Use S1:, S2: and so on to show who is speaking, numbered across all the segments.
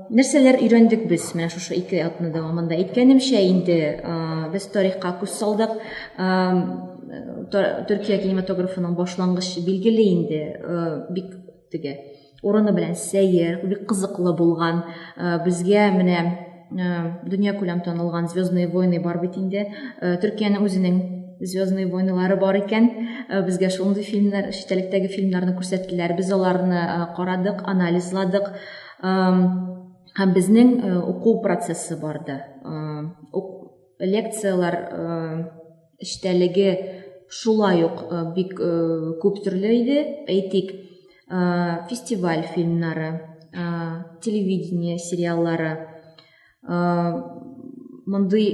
S1: Нәрсәләр өйрәндек без менә шушы ике атна дәвамында? Әйткәнемчә инде, без тарихка күз салдык. Төркия кинематографының башлангыч билгеле инде, бик теге урыны белән сәер, бик кызыклы булган. Безгә менә дөнья күләм танылган Звездные войны бар бит инде. Төркиянең үзенең Звездные войнылары бар икән. Безгә шундый фильмнар, чит фильмнарны күрсәттеләр. Без аларны карадык, анализладык. һәм безнең уку процессы барды лекцияләр эчтәлеге шулай ук бик күп төрле иде әйтик фестиваль фильмнары телевидение сериаллары мондый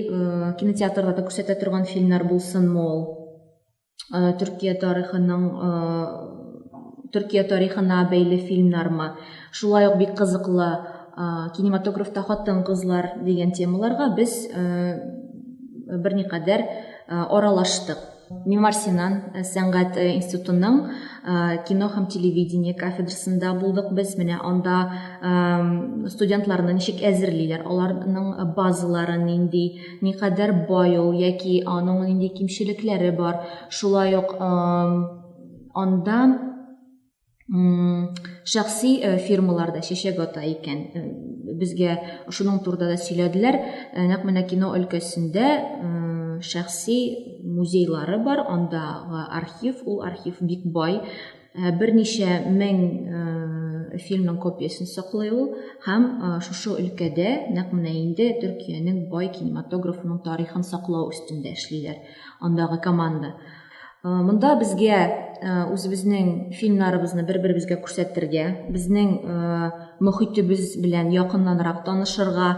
S1: кинотеатрда күрсәтә торган фильмнар булсынмы ул э, Төркия тарихының э, Төркия тарихына бәйле фильмнармы, шулай ук бик кызыклы э, кинематографта хатын-кызлар дигән темаларга без берникадәр аралаштык. Мимар Синан э, сәнгать э, институтының э, кино һәм телевидение кафедрасында булдык без. Менә анда студентларны ничек әзерлиләр, аларның базалары нинди, никадәр бай ул яки аның нинди кимчелекләре бар. Шулай ук анда шәхси э, фирмаларда чәчәк ата икән. Э, безгә шуның турында да сөйләделәр. Э, нәкъ менә кино өлкәсендә шәхси музейлары бар, андагы архив, ул архив бик бай. Э, берничә мең э, фильмның копиясен саклый ул һәм э, шушы өлкәдә нәкъ менә инде төркиянең бай кинематографының тарихын саклау өстендә эшлиләр андагы команда монда безгә үзебезнең фильмнарыбызны бер беребезгә күрсәтергә безнең мөхитебез белән якыннанрак танышырга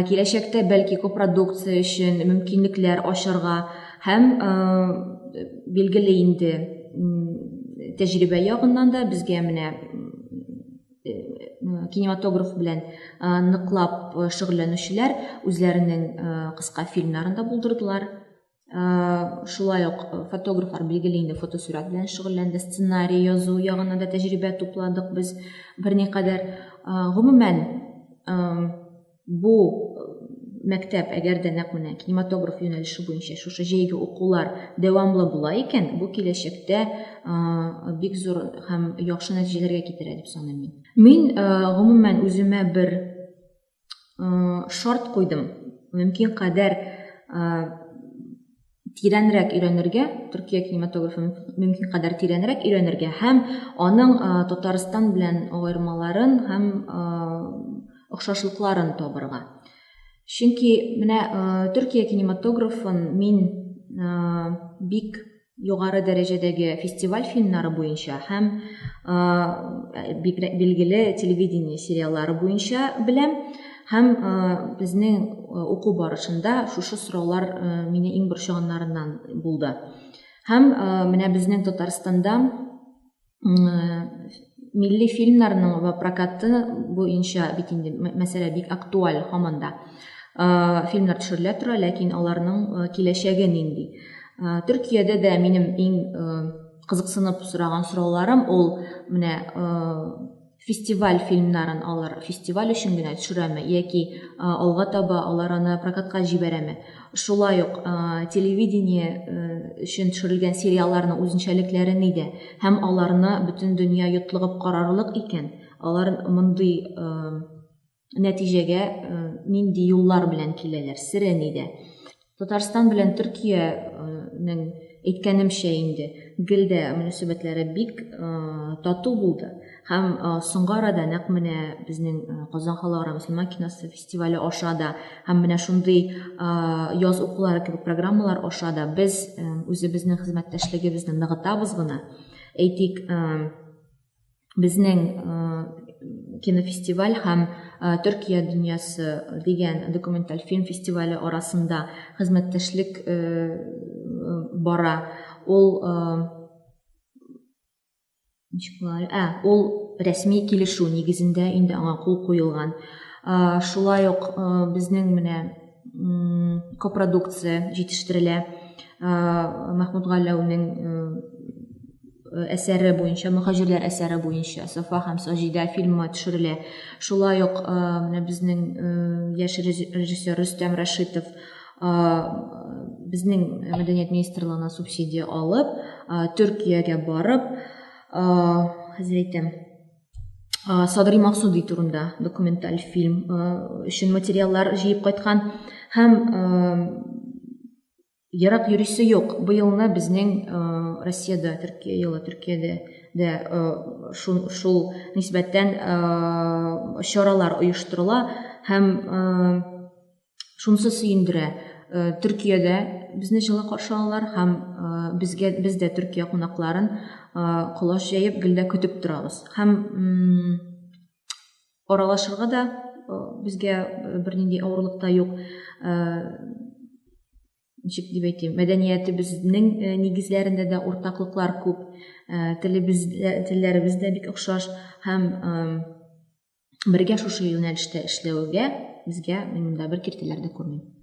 S1: киләчәктә бәлки копродукция өчен мөмкинлекләр ачарга Һәм билгеле инде тәҗрибә ягыннан да безгә менә кинематограф белән ныклап шөгыльләнүчеләр үзләренең кыска фильмнарын да булдырдылар шулай ук фотографлар билгеле инде фотосурәт белән шөгыльләнде сценарий язу ягына да тәҗрибә тупладык без берникадәр гомумән Бу мәктәп, әгәр дә нәкъ менә кинематограф юнәлеше буенча шушы җәйге укулар дәвамлы була икән, бу киләчәктә бик зур һәм яхшы нәтиҗәләргә китерә дип саныйм мин. Мин, гомумән, үземә бер шарт куйдым, мөмкин кадәр тирәнрәк өйрәнергә, Төркия кинематографын мөмкин кадәр тирәнрәк өйрәнергә һәм аның Татарстан белән аермаларын һәм охшашлыкларын табырга. Чөнки менә Төркия кинематографын мин бик югары дәрәҗәдәге фестиваль фильмнары буенча һәм билгеле телевидение сериаллары буенча беләм. Һәм э, безнең э, уку барышында шушы сораулар э, мине иң борчыганнарыннан булды. Һәм менә безнең Татарстанда милли фильмнарның ва прокаты буенча бит инде мәсьәлә бик актуаль һаман да. Фильмнар төшерелә тора, ләкин аларның киләчәге нинди? Төркиядә дә минем иң кызыксынып сораган сорауларым ул менә фестиваль фильмнарын алар фестиваль өчен генә төшерәме яки алга таба алар аны прокатка җибәрәме шулай ук телевидение өчен төшерелгән сериалларны үзенчәлекләре нидә һәм аларны бөтен дөнья йотлыгып карарлык икән алар мондый нәтиҗәгә э, нинди юллар белән киләләр, сире нидә. Татарстан белән Төркиянең әйткәнемчә инде гел дә мөнәсәбәтләре бик э, тату булды. Һәм э, соңгы арада нәкъ менә безнең э, Казан халыкара мөселман киносы фестивале аша да һәм менә шундый яз укулары кебек программалар аша да без үзебезнең хезмәттәшлегебезне ныгытабыз гына. Әйтик, безнең кинофестиваль һәм Төркия дөньясы дигән документаль фильм фестивале арасында хезмәттәшлек бара. Ул ә, ул рәсми килешү нигезендә инде аңа кул куелган. Шулай ук безнең менә копродукция җитештерелә. Мәхмүт Галәүнең әсәре буенча, мөхаҗирләр әсәре буенча Сафа һәм Саҗидә фильмы төшерелә. Шулай ук менә безнең яшь режиссер Рөстәм Рәшитов безнең мәдәният министрлыгына субсидия алып, Төркиягә барып, хәзер әйтәм, ә, Садри Максуди турында документаль фильм ә, өчен материаллар җыеп кайткан һәм ә, ерак йөрисе юк. Быелны безнең ә, Россиядә, Төркия елы Төркиядә дә ә, шул, шул нисбәттән ә, чаралар оештырыла һәм ә, Шунысы сөендерә, э, Төркиядә безне җылы каршы алалар һәм э, безгә без дә Төркия кунакларын э, колач җәеп гел дә көтеп торабыз. Һәм аралашырга да безгә бернинди авырлык та юк. Ничек дип әйтим, мәдәниятебезнең нигезләрендә дә уртаклыклар күп, телебез телләребез дә бик охшаш һәм бергә шушы юнәлештә эшләвегә безгә мин монда бер киртәләр дә күрмим